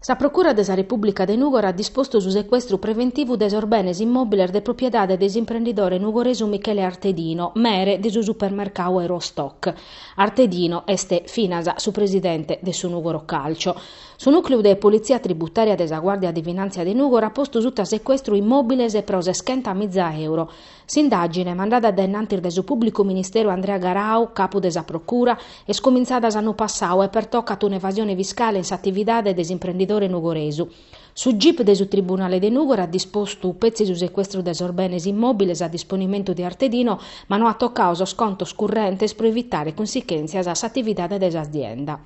Sa Procura de sa Repùblica de Nùgoro at dispostu su secuestru preventivu de sos benes immòbiles de propriedade de s'imprendidore nugoresu Michele Artedino, mere de su supermercadu Eurostock. Artedino est finas su presidente de su Nùgoro Calcio. Su nùcleu de politzia tributària de sa Guàrdia de Finàntzia de Nùgoro at postu suta secuestru immòbiles pro seschenta miza euro. S'indàgine, mandada dae innantis de su pùblicu ministeru Andrea Garau, capu de sa procura, est cumintzada s'annu passau e pertocat un'evasione fiscale in s'atividade de s'imprendidore nugoresu. Su gip de su tribunale de Nùgoro at dispostu petzi su secuestru de sos benes immòbiles a disponimentu de Artedino, ma no at tocau sos contos currentes pro evitare cunsichèntzias a s'atividade de s'azienda.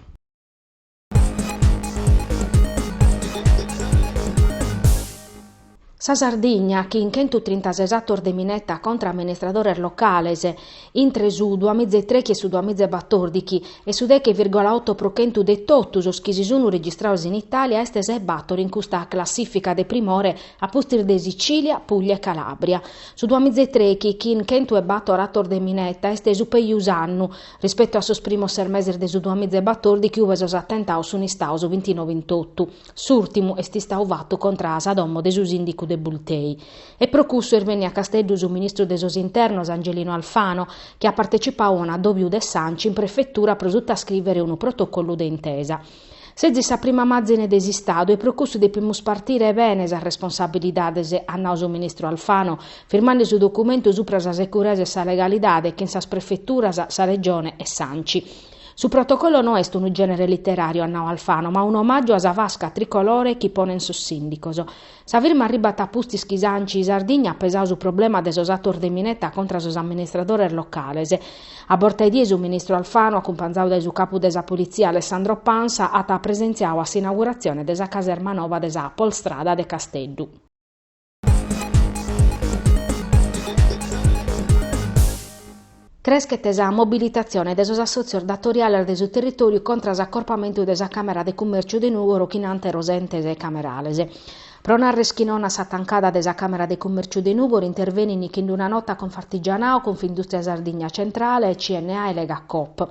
Sa Sardigna, chin chentu trintases atos de mineta contra amministradores locales, intre su duamizaitrechi e su duamiza e batòrdichi, e su deghe virgola oto pro chentu de totu sos chi si sun registrados in Itàlia, est sa 'e bator in custa classìfica de primore a pustis de Sicìlia, Pùglia e Calàbria. Su duamizaitrechi, chin chentu e bator atos de mineta, est su pejus annu, Rispetu a sos primos ses meses de su duamiza e batòrdichi ue sos atentados sunt istaos bintinove in totu, s'ùrtimu est istau fatu contra a sa domo de su sìndicu de Bultei. E pro cussu est benniu a Casteddu su ministru de sos internos Angelino Alfano, chi at partecipau a un'addòbiu de s'Anci in prefetura pro sutascrìvere unu protocolu de intesa. Sezis sa prima màzine de s'Istadu e pro cussu depimus partire bene sas responsabilidades, at nau su ministru Alfano, firmande su documentu supra sa securesa e sa legalidade chin sas prefeturas, sa Regione e s'Anci. Su protocollo no est unu gènere literàriu, at nau Alfano, ma un'omàgiu a sa fasca tricolore chi ponent sos sìndicos. Sa firma arribat a pustis chi s'Anci Sardigna at pesau su problema de sos atos de mineta contra sos amministradores locales. A borta 'e die su ministru Alfano, acumpanzadu dae su capu de sa Politzia Alessandro Pansa, at presentziau a s'inauguratzione de sa caserma nova de sa Polstrada de Casteddu. Creschet sa mobilitatzione de sos assòtzios datoriales de su territòriu contra s'acorpamentu de sa Càmera de Cummèrciu de Nùgoro chin ànteros entes camerales. Pro narrer chi non a sa tancada de sa Càmera de Cummèrciu de Nùgoro intervenint chin una nota Confartigianao, Confindùstria Sardigna Centrale, CNA e Legacoop.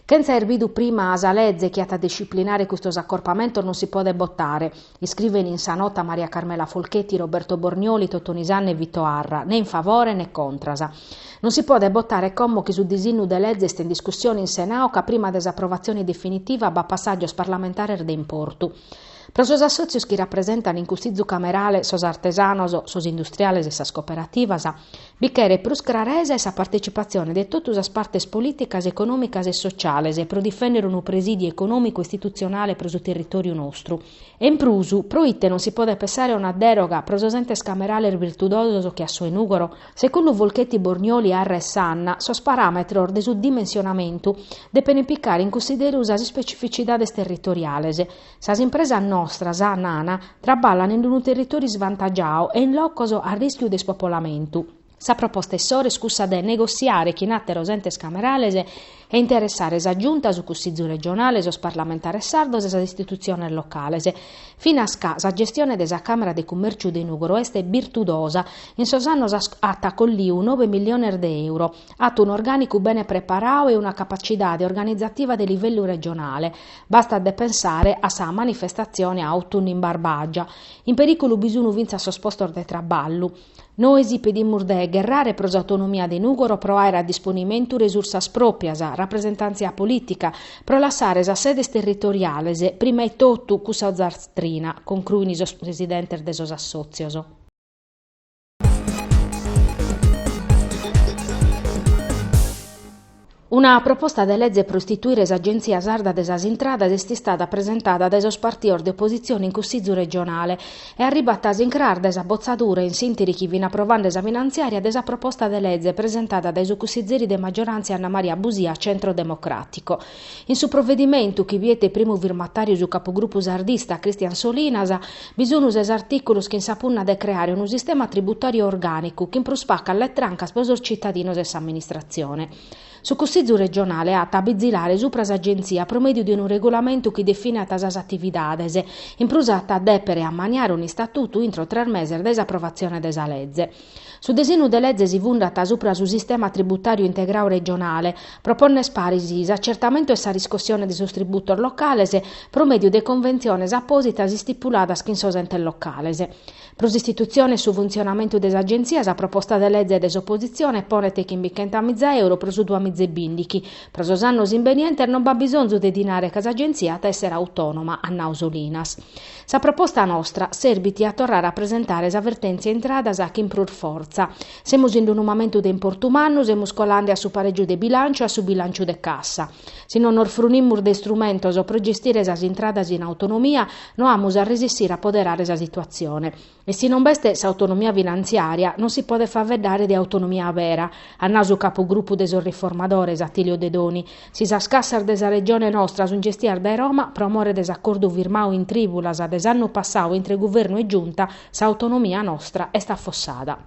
Chentza aer bidu prima sa leze chi at a disciplinare custos acorpamentos non si podet botare. Iscrivent in sa nota Maria Carmela Folchetti, Roberto Bornioli, Totoni Sanna e Vito Arra, ne in favore ne contras. Non si podet botare como chi su disignu de leze est in discussione in Senau ca prima de s'aprovatzione definitiva b'at passàgios parlamentares de importu. Pro sos assòtzios chi rapresentant in cussizu camerale sos artesanos, sos industriales e sas cooperativas, Bi cheret prus craresa e sa partecipatzione de totu sas partes polìticas, econòmicas e sociales pro difènnere unu presìdiu econòmicu e istitutzionale pro su territòriu nostru. E in prus, pro ite non si podet pensare a una dèroga pro sos entes camerales virtudosos che a su de Nùgoro? Segundu Folchetti, Bornioli, Arra e Sanna, sos paràmetros de su dimensionamentu depent picare in cunsideru sas ispecificidades territoriales, Sas impresas nostras, nana, traballan in unu territòriu isvantagiadu e in locos a rìschiu de ispopolamentu. Sa proposta issoro est cussa de negotziare chin àteros entes camerales e interessare sa Giunta, su Cussìgiu regionale, sos parlamentares sardos e sas istitutziones locales. Finas ca sa gestione de sa Càmera de Cummèrciu de Nùgoro est birtudosa, in sos annos at collidu nove milliones de euro, at un'orgànicu bene preparadu e una capacidade organizativa de livellu regionale, Bastat de pensare a sa manifestatzione Autunnu in Barbagia. In perìculu bi sunu fintzas sos postos de traballu. Nois pedimus de gherrare pro s'autonomia de Nùgoro pro àere a disponimentu resursas pròprias, rapresentàntzia polìtica, pro lassare sas sedes territoriales, prima 'e totu cussa ozastrina, concruin sos presidentes de sos assòtzios. Una proposta de lege pro istituire s'Agèntzia Sarda de sas Intradas est istada presentada dae sos partidos de opositzione in Cussìgiu regionale e arribat a s'incràs de sa botzadura in s'ìnteri chi fin aprovande sa finantziària de sa proposta de lege presentada dae su cussigieri de magioràntzia Anna Maria Busia, Centro Democràtico. In su provedimentu, chi biet primu firmatàriu su capugrupu sardista Christian Solinas, bi sun ses artìculos chin sa punna de creare unu sistema tributàriu orgànicu chin prus pacas letrancas pro sos citadinos e s'amministratzione. Su Cussizu regionale at a bizilare supra s'Agentzia pro mèdiu de unu regulamentu chi definat sas atividades, in prus at a dèpere ammaniare un'istatutu intro tres meses dae s'aprovatzione de sa leze. Su disinnu de leze si fundat supra su sistema tributàriu integrau regionale, pro pònner paris s'acertamentu e sa riscossione de sos tributos locales pro mèdiu de conventziones apòsitas istipuladas chin sos entes locales. Pro s'istitutzione e su funtzionamentu de s'Agentzia sa proposta de leze de s'opositzione ponet chimbichenta miza euro pro su duas miza e bìndighi. Pro sos annos imbenientes non b'at bisonzu de dinare ca s'Agentzia at a èssere autònoma, at nau Solinas. Sa proposta nostra serbit a torrare a presentare sa vertèntzia intradas chin prus fortza. Semus in unu mamentu de importu mannu, semus colande a su parègiu de bilànciu e a su bilànciu de cassa. Si non nos frunimus de istrumentos pro gestire sas intradas in autonomia, no amus a resissire a poderare sa situatzione. E si non b'est s'autonomia finantziària, non si podet faeddare de autonomia abera, at nau su capugrupu de sos riformadores, Attilio Dedoni. Si sas cassas de sa Regione nostra sunt gestias dae Roma, pro more de s'acordu firmadu in trìbulas de s'annu passadu intre Guvernu e Giunta, s'autonomia nostra est affossada.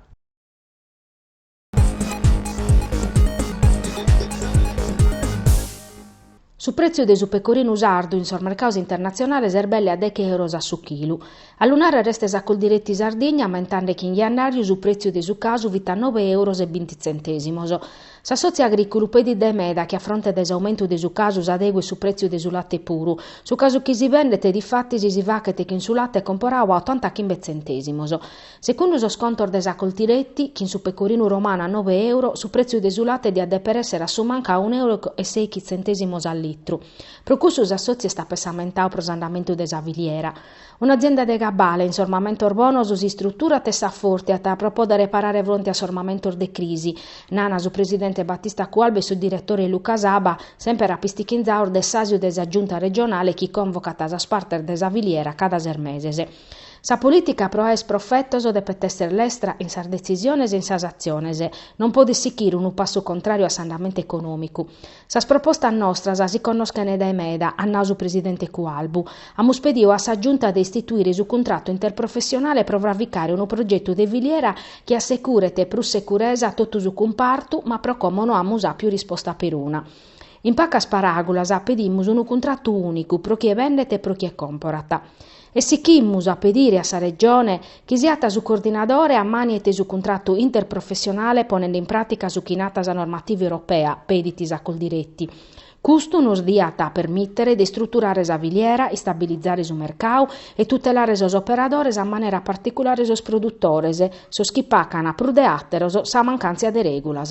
Su prètziu de su pecorinu sardu in sos mercados internatzionales est belle a deche euros a su chilu. A lu nàrrere est sa Coldiretti Sardigna, ammentande chi in jannàriu su prètziu de su casu fit a nobe euros e binti tzentèsimos. S'assòtziu agrìculu pedit dae meda chi a fronte de s'aumentu de su casu s'adeguet su prètziu de su latte puru. Su casu chi si bendet, difatis, si faghet chin su latte comporadu a otanta chimbe tzentèsimos. Segundu sos contos de sa Coldiretti, chin su pecorinu romanu a nobe euro, su pretziu de su latte diat deper esser a su mancu a unu euro e seichi tzentesimos a litru. Pro cussu s'assotziu est apessamentadu pro s'andamentu de sa filiera. Un'azienda de cabale, in sos mamentos bonos si istruturat e s'afortiat pro poder parare fronte a sos mamentos de crisi, nana su presidente Battista Cualbu e su diretore Luca Saba, semper apistichinzados de s'asiu de sa Giunta regionale chi convocet sas partes de sa filiera cada ses meses. Sa polìtica pro aer profetos depet èssere lestra in sas detzisiones e in sas atziones. Non podit sichire unu passu contràriu a s'andamentu econòmicu. Sas propostas nostras si connoschent dae meda, at nadu su presidente Cualbu. Amus pedidu a sa Giunta de istituire su cuntratu interprofessionale pro fraficare unu progetu de filiera chi assecuret prus seguresa a totu su cumpartu ma pro como no amus àpiu risposta peruna. In pacas paràgulas pedimus unu cuntratu ùnicu pro chie bendet e pro chie comporat. E sichimus a pedire a sa Regione chi siat su coordinadore ammaniet su cuntratu interprofessionale ponende in pràtica su chi natat sa normativa europea, pedit sa Coldiretti. Custu nos diat permìtere de istruturare sa filiera, istabilizare su mercau e tutelare sos operadores a manera particulare sos produtores, sos chi pacan prus de àteros sa mancàntzia de règulas.